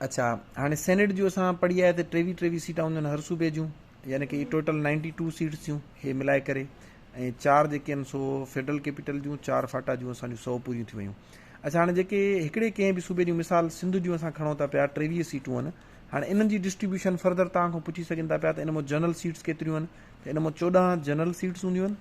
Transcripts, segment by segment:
اڇا هاڻي سينيٽ جون اسان پڙهي آيا ته ٽيويهه ٽيويهه سيٽان هونديون آهن هر صوبي جون يعني ڪي ٽوٽل نائنٽي ٽو سيٽس ٿيون هي ملائي ڪري ۽ چار جيڪي آهن سو فيڊرل ڪيپيٽل جون چار فاٽا جون اسان جون سو پوريون ٿي ويون اچھا هاڻي جيڪي هڪڙي ڪنهن به صوبي جون مثال سنڌ جون اسان کڻون ٿا پيا ٹيويهه سيٽون آهن هاڻي انهن جي ڊسٽريبيوشن فرضر توهان کان پڇي سگهن ٿا پيا ته ان مان جنرل سيٽس ڪيتريون آهن ته ان مان چوڏهن جنرل سيٽس هونديون آهن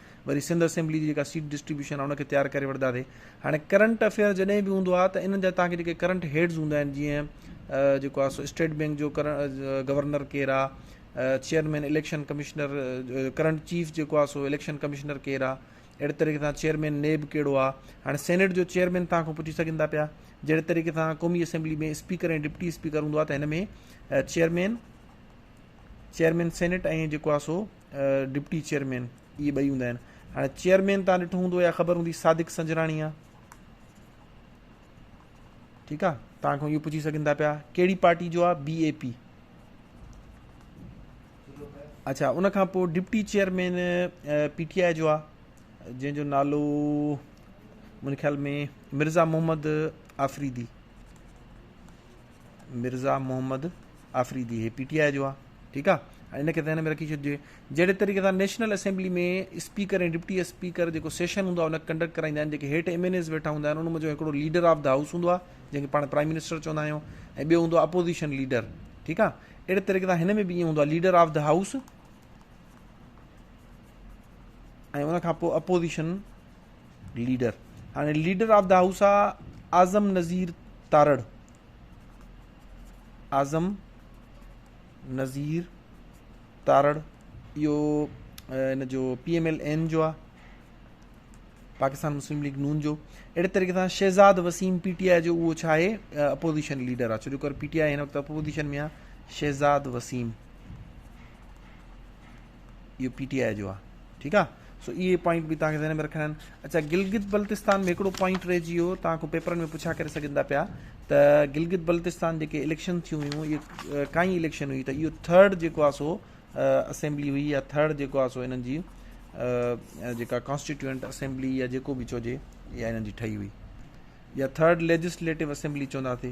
وري سنڌ اسيمبلي جي جيڪا سيٽ ڊسٽريبيوشن آهي ان کي تيار ڪري وٺنداسي هاڻي ڪرنٽ افيئر جڏهن به هوندو آهي ته انهن جا تهانکي جيڪي ڪرنٽ هيڊز هوندا آهن جيئن جيڪو آهي سو اسٽيٽ بينڪ جو گورنر ڪير آهي chairman election commissioner current chief جيڪو آهي سو اليڪشن ڪمشنر ڪير آهي اهڙي طريقي سان چيئرمين نيب کيڙو آ هاڻي سينيٽ جو چيئرمين تان کان پڇي سگهن ٿا پيا جهڙي طريقي سان قومي اسيمبلي ۾ اسپيڪر ۽ ڊپٽي اسپيڪر هوندو آ ته هن ۾ چيئرمين چيئرمين سينيٽ ۽ جيڪو آ سو ڊپٽي چيئرمين اهي ٻئي هوندا آهن هاڻي چيئرمين تان ڏٺو هوندو يا خبر هوندي صادق سنجراڻي آ ٺيڪ آ تان کان اهو پڇي سگهن ٿا پيا ڪهڙي پارٽي جو آ بي اي پي اچھا ان کان پوء ڊپٽي چيئرمين پي ٽي آء جو آ جنهن جو نالو منهنجي خيال ۾ مرزا محمد آفريدي مرزا محمد آفريدي هي پي ٽي آء جو آ ٺيڪ آ ان کي ذهن ۾ رکي ڇڏجي جهڙي طريقي سان national assembly ۾ speaker ۽ deputy speaker جيڪو سيشن هوندو آ ان کي ڪنڊڪٽ ڪرائيندا آهن جيڪي هيٺ ايم اين ايز ويٺا هوندا آهن ان منجهو هڪڙو ليڊر آف دا هائوس هوندو آ جنهن کي پاڻ پرائم منسٽر چوندا آهيون ۽ ٻيو هوندو آ اپوزيشن ليڊر ٺيڪ آ اهڙي طريقي سان هن ۾ به ائين هوندو آ ليڊر آف دا هائوس ۽ ان کان پوء اپوزيشن ليڊر هاڻي ليڊر آف دا هائوس آ اعظم نظير تارڙ اعظم نظير تارڙ اهو ان جو پي ايم ايل اين جو آ پاڪستان مسلم ليگ نون جو اهڙي طريقے سان شهزاد وسيم پي ٽي آء جو اهو ڇا آهي اپوزيشن ليڊر آ ڇو جو پي ٽي آء هن وقت اپوزيشن ۾ آ شهزاد وسيم اهو پي ٽي آء جو آ ٺيڪ آ سو اهي پوائنٽ به توهان کي ذهن ۾ رکڻا آهن اچھا گلگت بلتستان ۾ هڪڙو پوائنٽ رهجي ويو توهان کان پيپرن ۾ پڇا ڪري سگهن ٿا پيا ته گلگت بلتستان جيڪي اليڪشن ٿيون هيون اهي ڪائين اليڪشن هئي ته اهو ٿرڊ جيڪو آ سو اسيمبلي هئي يا ٿرڊ جيڪو آ سو انهن جي جيڪا ڪانسٽيٽيوئنٽ اسيمبلي يا جيڪو به چوجي اها انهن جي ٺهي هئي يا ٿرڊ ليجسليٽو اسيمبلي چونداسي